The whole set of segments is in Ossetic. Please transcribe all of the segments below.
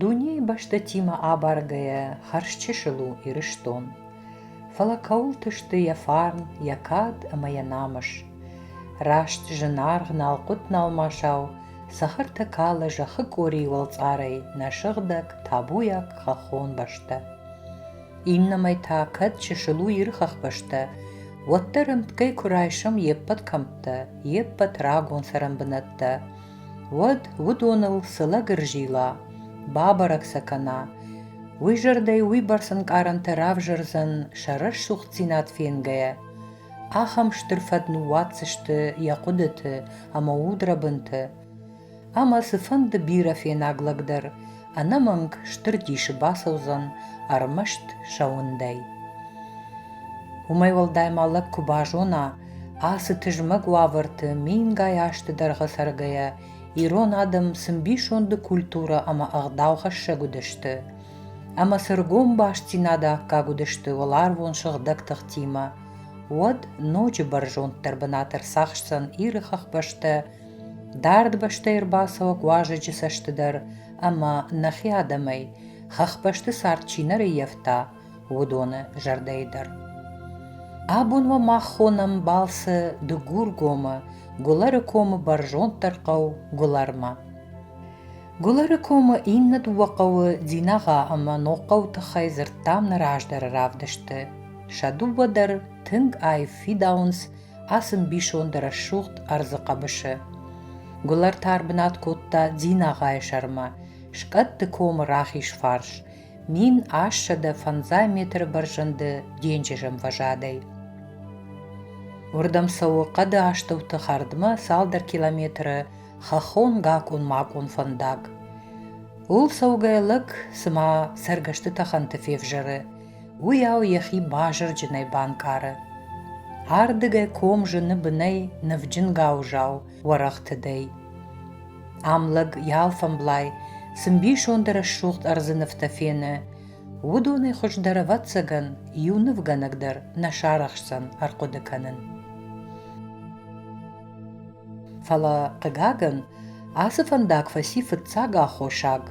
Дунейы бӕстӕтимӕ абаргӕйӕ хӕрзчысыл у Ирыстон. Фӕлӕ кӕуылты сты йӕ фарн, йӕ кад ӕмӕ йӕ намыс? Раст зынаргъ налхъуыт-налмасау Цӕхӕртӕ калы зӕххы къорийы уӕлцъарӕй, нӕ сыгъдӕг, табуйаг хӕххон бӕстӕ. Иннӕмӕй та, кӕд чысыл у Иры хӕхбӕстӕ, уӕддӕр ӕмткӕй куы райсӕм йе ппӕт кӕмттӕ, йе ппӕт рагон цӕрӕнбынӕттӕ, уӕд уыдоныл цы лӕгыр зила, бабӕрӕг сӕ кӕна, уый зӕрдӕй уыйбӕрц ӕнкъарӕнтӕ равзӕрдзӕн сӕ рӕсугъддзинад фенгӕйӕ, ахӕм стыр фӕд ныууадздзысты йӕ хъуыдыты ӕмӕ удрӕбынты, ӕмӕ цыфӕнды бирӕфенаг лӕг дӕр ӕнӕмӕнг стыр дисы бацӕудзӕн ӕрмӕст сӕ уындӕй. Уымӕй уӕлдай ма лӕг куы базона, ацы тызмӕг уавӕрты мингай азты дӕргъы цӕргӕйӕ, ирон адӕм цы мбисонды культурӕ ӕмӕ ӕгъдаухӕссӕг уыдысты, ӕмӕ цы ргом бастдзинады аккаг уыдысты уӕларвон сыгъдӕг тыхтимӕ, уӕд ноджы бӕрзонддӕр бынат ӕрцахсдзӕн Иры хӕхбӕстӕ, дард бӕстӕй ӕрбацӕуӕг уазӕджы цӕсты дӕр ӕмӕ нӕхи адӕмӕй, хӕхбӕсты цард чи нӕ рӕййӕфта, уыдоны зӕрдӕйы дӕр. Абон уӕ мах хонӕм балцы Дыгургомы, Гуылӕрыкомы бӕрзонддӕр хъӕу Гуылӕрмӕ. Гуылыры комы иннӕ дыууӕ хъӕуы Дзинагъа ӕмӕ Ногхъӕуы тыххӕй дзырдтам нӕ раздӕры равдысты. Сӕ дыууӕ дӕр тынг аив фидауынц ацы мбисонды рӕсугъд ӕрдзы хъӕбысы. Гуылӕр тар бынат кодта Дзинагъайы сӕрмӕ, скъӕтты комы рахиз фарс, мин ассӕдӕ фӕндзай метры бӕрзӕнды денджыз ӕмвӕзадӕй. Уырдӕм цӕуы хъӕды астӕуты хӕрдмӕ цалдӕр километры хӕххон гакъон-макъон фӕндаг. Ууыл цӕугӕ лӕг, цыма цӕргӕсты тӕхӕнты февзӕры, уыйау йӕхи базырджынӕй банкъары. Ардыгӕй ком зыны бынӕй нывджынгау зау уӕрӕх тыдӕй. Ам лӕг ялфӕмблай цы мбисонды рӕсугъд ӕрдзы нывтӕ фены, уыдонӕй хуыздӕр ӕвӕццӕгӕн иу нывгӕнӕг дӕр нӕ сарӕхсдзӕн ӕрхъуыды кӕнын. Фӕлӕ, хъыгагӕн, ацы фӕндаг фӕци фыццаг аххосаг,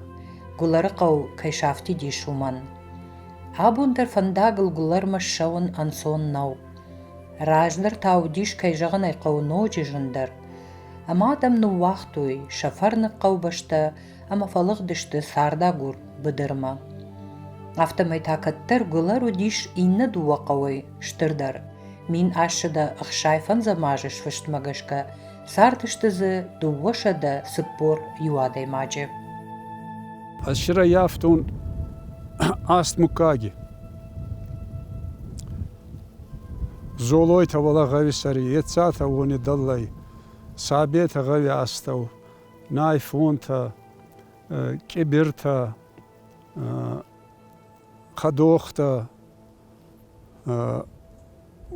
Гуылӕрыхъӕу кӕй сафтидис, уымӕн. Абон дӕр фӕндагыл Гуылӕрмӕ ссӕуын ӕнцон нӕу. Раздӕр та уыдис, кӕй зӕгъын ӕй хъӕуы, ноджы зындӕр. Ӕмӕ адӕм ныууагътой, сӕ фӕрныг хъӕубӕстӕ ӕмӕ фӕлыгъдысты цардагур быдырмӕ. Афтӕмӕй та кӕддӕр Гуылар уыдис иннӕ дыууӕ хъӕуӕй стырдӕр. Мин ассӕдӕ ӕхсайфӕндзӕм азы сфыстмӕ гӕсгӕ цардысты дзы дыууӕсӕдӕ цыппор иу адӕймаджы. Ez šoreiz jāaptun Астмукаги. Золойта вала гъави сари, ецата уони даллай, сабета гъави астау, Найфонтӕ, къибиртӕ, хӕдохтӕ.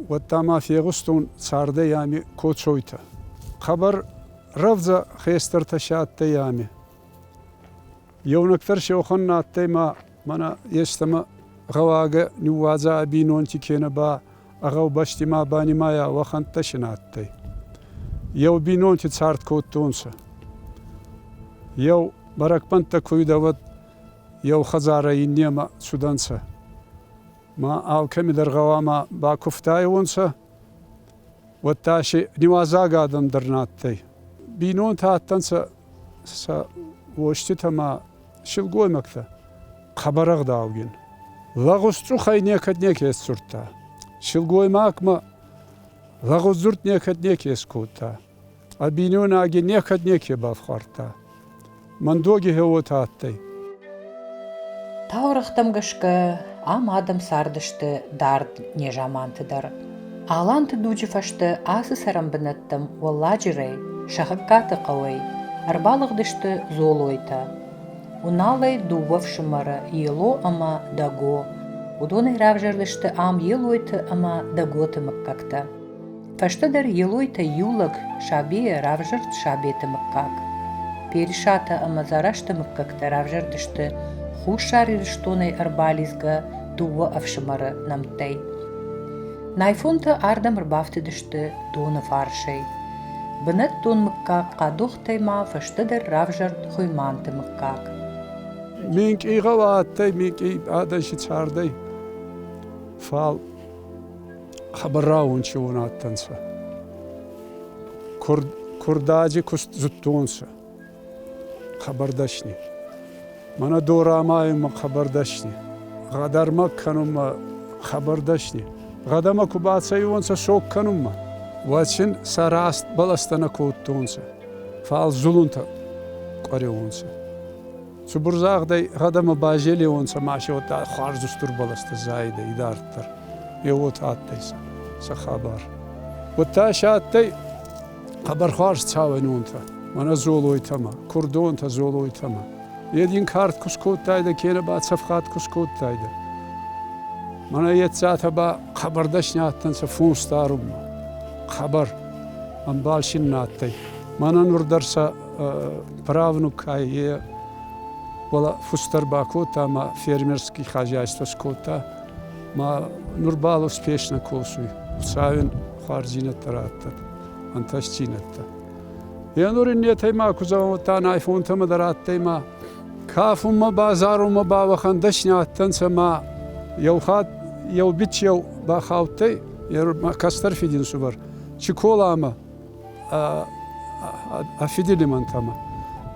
Уӕдта ма фегъустон цардӕй ами кочойтӕ. Хъӕбӕр рӕвдзӕ хестӕртӕ си адтӕй ами. Еунӕгдӕр сеухон на адтӕй ма мӕнӕ естӕмӕ гъӕуагӕ ниууадза ӕ бийнонти кенӕ ба ӕ гъӕубӕсти ма банимайа уӕхӕнттӕ син адтӕй. Еу бийнонти цард кодтонцӕ. Еу бӕрӕгбӕнттӕ ку уидӕ, уӕд еу хӕдзарӕ иннемӕ цудӕнцӕ. Ма алкӕмидӕр гъӕуама бакувтайуонцӕ, уӕдта си ниуазаг адӕм дӕр нӕ адтӕй. Бийнонтӕ адтӕнцӕ сӕ уоститӕ ма силгоймӕгтӕ хъӕбӕрӕгъдаугин. Лӕгъузцъухӕй некӕд неке ссурдта. Силгоймагмӕ лӕгъуздзурд некӕд неке скодта. Ӕ бийнойнаги некӕд неке бафхуардта. Мӕндоги хеуотӕ адтӕй. Таурӕгътӕм гӕсгӕ ам адӕм цардысты дард незаманты дӕр. Аланты дуджы фӕстӕ ацы цӕрӕнбынӕттӕм уӕлладжырӕй, Сӕгъӕгкаты хъӕуӕй, ӕрбалыгъдысты Золойтӕ. Уналӕй дыууӕ фсымӕры Ело ӕмӕ Дӕго. Уыдонӕй равзӕрдысты ам Елойты ӕмӕ Дӕготы мыггӕгтӕ. Фӕстӕдӕр Елойтӕй иу лӕг, Сабейӕ равзӕрд Сабеты мыггаг. Персатӕ ӕмӕ Дзарасты мыггӕгтӕ равзӕрдысты Хуссар Ирыстонӕй ӕрбалидзгӕ дыууӕ ӕфсымӕры нӕмттӕй. Найфонтӕ ардӕм ӕрбафтыдысты доны фарсӕй. Бынӕттон мыггаг Хъадохтӕй ма фӕстӕдӕр равзӕрд Хуыйманты мыггаг. Минкъигъау адтӕй минкъи адӕси цардӕй, фал хӕбараун си он адтӕнцӕ. Курдаджи куст зудтонцӕ. Хабардӕсни. Мӕнӕ дорамайунмӕ хабардӕсни. Гъӕдӕрмӕ кӕнунмӕ хабардӕсни. Гъӕдӕмӕ ку бацӕйуонцӕ сог кӕнунмӕ, уӕд син сӕ раст баластӕ нӕ кодтонцӕ, фал зулунтӕ къуӕреуонцӕ. Цубурзагъдӕй гъӕдӕмӕ базелеуонцӕ масе уотӕ хуарзустур баластӕ зайидӕ идарддӕр. Е уотӕ адтӕй сӕ хабар. Удта се адтӕй Хъӕбӕрхуарз цауӕнонтӕ, мӕнӕ дзолойтӕмӕ, курдонтӕ дзолойтӕмӕ. Е дин кард ку скодтайдӕ, кенӕ ба цӕфгъат ку скодтайдӕ. Мӕнӕ еццатӕ ба хъӕбӕр дӕсни адтӕнцӕ фунс дарунмӕ. Хъӕбӕр, ӕмбал син нӕ адтӕй. Мӕнӕ нур дӕр сӕ правнукӕй е уӕлӕ фустӕр бакодта ӕма фермерски хозяйство скодта. Ма нурбал успешно косуй. Хуцауин хуарздзийнӕдтӕ радтӕд. ӕнтӕстдзийнӕдтӕ. Е нур иннетӕй ма ку зӕгъӕн уӕдта айфонтӕмӕ дӕр адтӕй ма кафунмӕ ба зарунмӕ ба уӕхӕн дӕсни адтӕнцӕ ма еу хатт еу бичеу бахаудтӕй е кӕстӕр фидинсувӕр Чиколамӕ ӕ фидилимӕнтӕмӕ.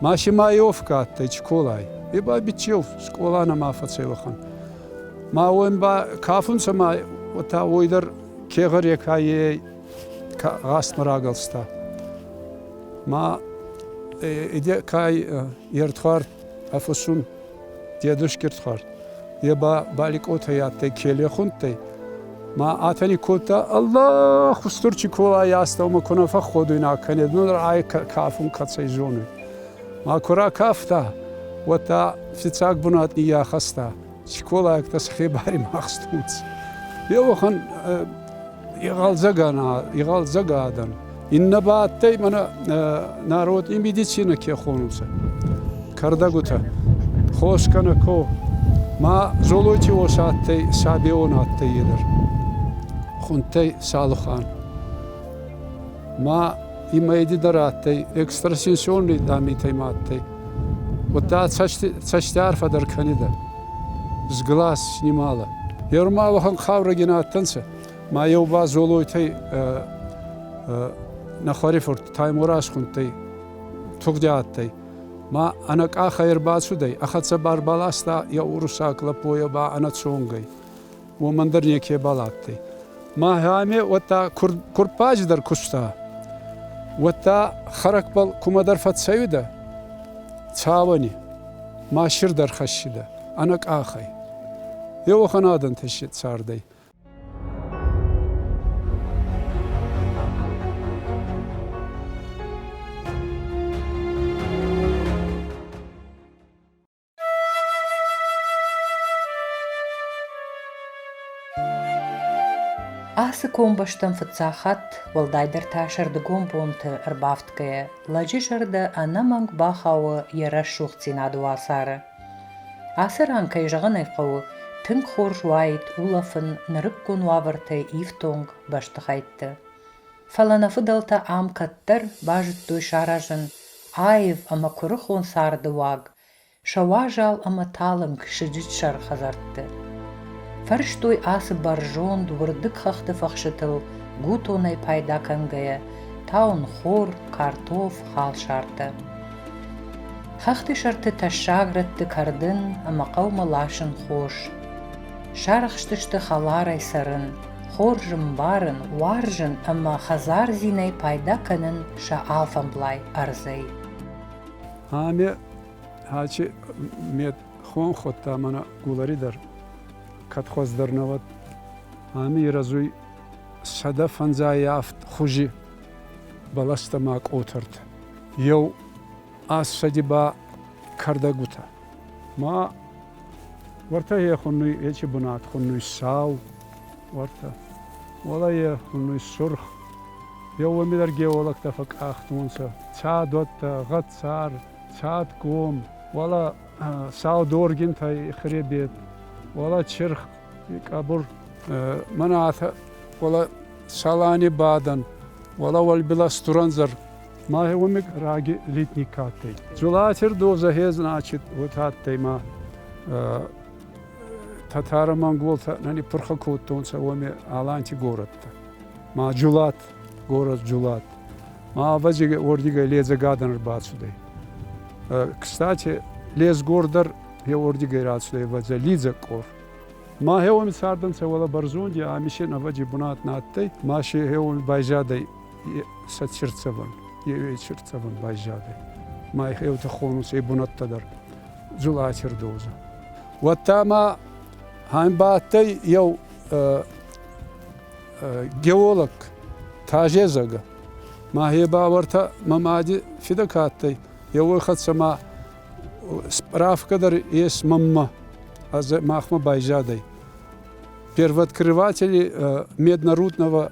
Ма Шимаевка адтӕй Чиколай. Е ба бичеу скъола нӕма фӕцӕй уӕхӕн. Ма уой ба кафунцӕ ма уотӕ уой дӕр кегъӕр екайей гъӕстмӕ рагӕлста. Ма иде кай е ртхуар ӕфусун дедушки ртхуар. Е ба баликъотӕй адтӕй келехунттӕй. Ма атани кодта, Аллах, устур чи колай аста, ума куна фӕхходуйна кӕнед, нур ай кафун кӕцӕй зонуй. Ма ку ракафта, уӕдта фиццаг бунат ниййахӕста. скъолайӕгтӕ сӕхе баримахстонцӕ. Е уӕхӕн егъӕлдзӕган адӕн. Иннӕ ба адтӕй мӕнӕ народ и медицинӕ ке хонунцӕ, кӕрдӕгутӕ, хоскӕнӕ ко. Ма Золойти уосӕ адтӕй, Сабеон адтӕй е дӕр. Хунтӕй Салухан. Ма имӕ еди дӕр адтӕй, экстрасенсионный дамитӕй ма адтӕй. Уӕдта цӕстӕ арфӕдӕр кӕнидӕ. Сглас снимала. Еу ма уӕхӕн хъаурӕгин адтӕнцӕ, ма еу ба Золойтӕй нӕхуӕрифурт Таймораз хунттӕй тугъди адтӕй. Ма ӕнӕ къахӕй ӕрбацудӕй, ӕ хӕццӕ барбаласта еу урусаг лӕппойӕ ба ӕнӕ цонгӕй. уомӕн дӕр некебал адтӕй. Мӕхӕме уӕдта курппаджи дӕр куста, уӕдта хӕрӕгбӕл кумӕдӕр фӕццӕуидӕ цауӕни, ма сир дӕр хӕссидӕ ӕнӕ къахӕй. Еуӕхӕн адӕнтӕ си цардӕй. Ацы комбӕстӕм фыццаг хатт, уӕлдайдӕр та сӕрдыгон бонты ӕрбафтгӕйӕ, лӕджы зӕрдӕ ӕнӕмӕнг бахауы йӕ рӕсугъддзинады уацары. Ацы ран, кӕй зӕгъын ӕй хъӕуы, тынг хорз уаид улӕфын нырыккон уавӕртӕй ифтонг бӕстыхӕйтты. Фӕлӕ нӕ фыдӕлтӕ ам кӕддӕр базыдтой саразын Аив ӕмӕ куырыхон царды уаг, сӕ уазал ӕмӕ талынг сыджытсӕр хӕдзӕртты. Фӕрстой ацы бӕрзонд уырдыг хӕхты фӕхсытыл, гутонӕй пайда кӕнгӕйӕ, таунхор, картоф, халсартӕ. Хӕхты сӕрты тӕссаг рӕтты кӕрдын ӕмӕ хъӕумӕ ласын хос. Сарӕхстысты хӕларӕй цӕрын, хорз ӕмбарын, уарзын ӕмӕ хӕдзардзинӕй пайда кӕнын сӕ алфӕмблай ӕрдзӕй. Ӕме ачи мед хон ходта мана гулари дӕр кӕдхуӕз дӕр навӕд. Ами ирӕзуй сӕдӕ фӕнзайафт хузи бӕлӕстӕ ма къотӕрт. Еу ас сӕди ба кӕрдӕгутӕ. Ма Уортӕ е хуннуй ечи бунат, хуннуй сау, уортӕ. Уӕлӕ е хуннуй сурх. Еуеми дӕр геологтӕ фӕкъахтонцӕ. Цадуӕттӕ, гъӕццар, цадгом, уӕлӕ сау доргинтӕй хребет, уӕлӕ чирх, къӕбур. Мӕнӕ атӕ, уӕлӕ Салани бадӕн, уӕлӕ уӕлбилӕ Стуранзар. Мӕгъуник раги литник ка адтӕй. Дзулатир дозӕхе, значит, уотӕ адтӕй ма татаро-монголтӕ нани пурхӕ кодтонцӕ уоми Аланти горӕттӕ. Ма Джулат, город Джулат. Ма авази уордигӕй ледзӕгадӕн рбацудӕй. Кстати, лезгор дӕр е уордигӕй рацудӕй вӕдзӕ лидзӕгкъор. Ма хеуоми цардӕнцӕ уӕлӕ Бӕрзонди, ами син ӕвӕджи бунат нӕ адтӕй, ма си хеуоми байзадӕй сӕтсерцевӕн, евейсерцевӕн байзадӕй. Ма еута хонус ей бунӕттӕ дӕр зулатердоза. Уӕдта ма ӕмбадтӕй еу геолог тазезагӕ. Ма е бауӕртӕ мӕ мади фидӕ ка адтӕй, еуой хӕццӕ ма справка дӕр ес мӕммӕ, махмӕ байзадӕй. Первооткрыватели Меднорудного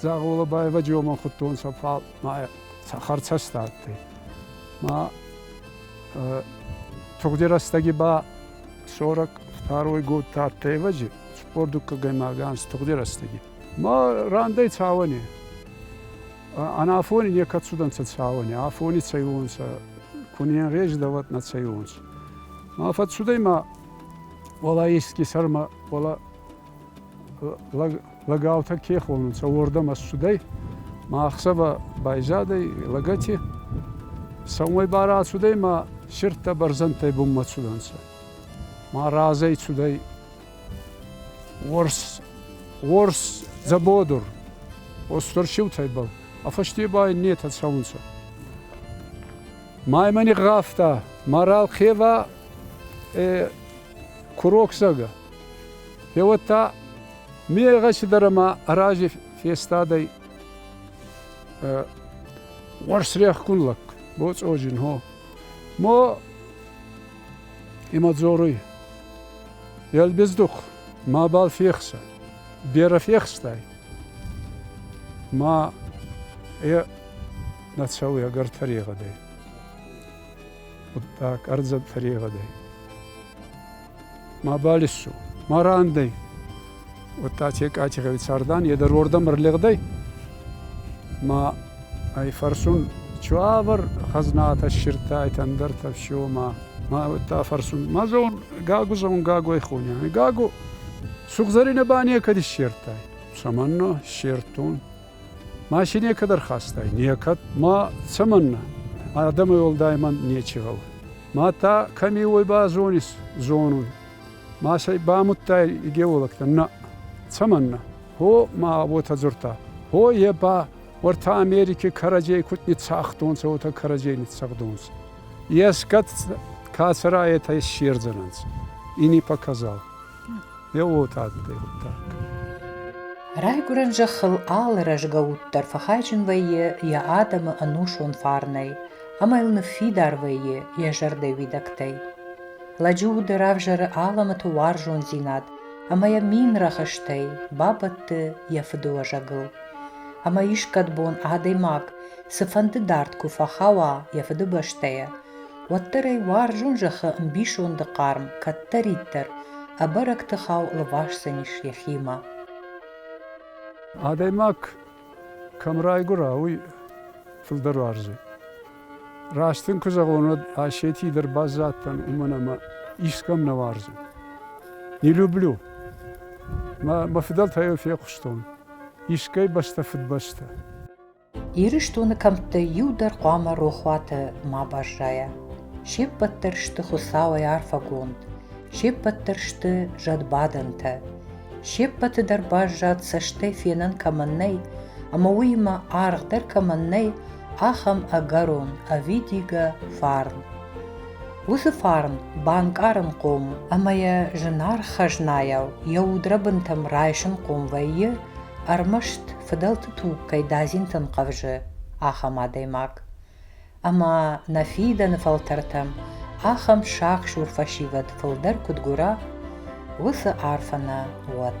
Дзагъолабаева джомон худтонцӕ, фал ма цӕхӕрцӕстӕ адтӕй. Ма тугъди рӕстӕги ба сорак фтаройгод тӕртевӕджи цупор дуккагӕймагӕ анс тугъди рӕстӕги. Ма рандӕй цауӕни. Анафони некӕд цудӕнцӕ цауӕни, афони цӕйуонцӕ, кунен реждаватна цӕйуонцӕ. Ма фӕццудӕй ма уала еске сӕрмӕ, уала лӕг лӕгӕутӕ ке хонунцӕ, уордӕм ӕссудӕй, ма ӕхсӕвӕ байзадӕй лӕгӕти. Сӕумӕй ба рацудӕй ма сирдтӕ бӕрзӕндтӕй бунмӕ цудӕнцӕ. Ма разӕй цудӕй уорс, уорс дзӕбодур, устур сиутӕйбӕл, ӕ фӕсте ба иннетӕ цӕунцӕ. Ма имӕ нигъгъавта, ма ралхъевӕ курокдзагӕ. Еуӕд та мегъӕси дӕр ӕма рази фестадӕй уорсрехгун лӕг, боцъоджин хо. Мо имӕ дзоруй, Елбездух, мабал фехсӕ, берӕ фехстай. Ма е нӕ цӕуй ӕгӕр тӕрегъӕдӕй. Хъуддаг ӕрдзӕн тӕрегъӕдӕй. ма балессу, ма рандӕй. Уӕдта Чекай Чеховицардан е дӕр уордӕм ӕрлигъдӕй, ма ӕй фӕрсун, чуавӕр хӕзнатӕ ссирдтайтӕ ӕндӕртӕ всё, ма ма уӕдта фӕрсун, ма зон, Гагу зон, Гагуӕй хуня. Гаго, сугзӕринӕ ба некӕд иссердтай. Цӕмӕннӕ ссердтон? Маши некӕд ӕрхастай, некӕд ма цӕмӕннӕ? Адӕмӕй уӕлдай мӕн нечи гъӕуы. Ма та кӕми уой ба зонис, зонун. Машӕй бамудтай игеолӕгтӕн? Нӕ. Цӕмӕннӕ? Хо ма уотӕ дзурдта. Хо е ба уӕртӕ Америки кӕрӕдзей куд ниццагътонцӕ, уотӕ кӕрӕдзей ниццагътонцӕ. Ескӕд кӕцӕраетӕ иссердзӕнӕнцӕ. И ни показал. Йӕ уылты адтӕй хъуыддаг. Райгуырӕн зӕххыл алы рӕзгӕ уд дӕр фӕхайджын вӕййы йӕ адӕмы ӕнусон фарнӕй ӕмӕ йыл ныффидар вӕййы йӕ зӕрдӕ уидӕгтӕй. Лӕджы уды равзӕры алӕмӕты уарзондзинад ӕмӕ йӕ мин рӕхыстӕй бабӕтты йӕ фыдыуӕзӕгыл. Ӕмӕ искӕд бон адӕймаг цыфӕнды дард куы фӕхауа йӕ фыдыбӕстӕйӕ, уӕддӕр ӕй уарзон зӕххы ӕмбисонды хъарм кӕддӕриддӕр ӕбӕрӕг тыхау лвасдзӕнис йӕхимӕ адӕймаг кӕм райгуыра уый фылдӕр уарзы раст ын куы зӕгъон уӕд асети дӕр баззадтӕн уымӕн ӕмӕ искӕм нӕ уарзы не люблю мӕ фыдӕлтӕй йыл фехъуыстон искӕй бӕстӕ фыдбӕстӕ Ирыстоны кӕмттӕй иу дӕр хъуамӕ рохуаты ма баззайа. Се ппӕт дӕр сты Хуыцауӕй арфӕгонд, се ппӕт дӕр сты зӕдбадӕнтӕ. Се ппӕты дӕр баззад цӕстӕй фенӕн кӕмӕн нӕй, ӕмӕ уыимӕ аргъдӕр кӕмӕн нӕй, ахӕм ӕгӕрон, ӕвидигӕ фарн. Уыцы фарн банкъарынхъом ӕмӕ йӕ зынаргъ хӕзнайау йӕ удрӕбынтӕм райсынхъом вӕййы ӕрмӕст фыдӕлты туг кӕй дадзинтӕм хъӕвзы, ахӕм адӕймаг. Ӕмӕ нӕ фидӕны фӕлтӕртӕм ахӕм сахсур фӕсивӕд фылдӕр куыд гуыра, уыцы арфӕ нӕ уӕд.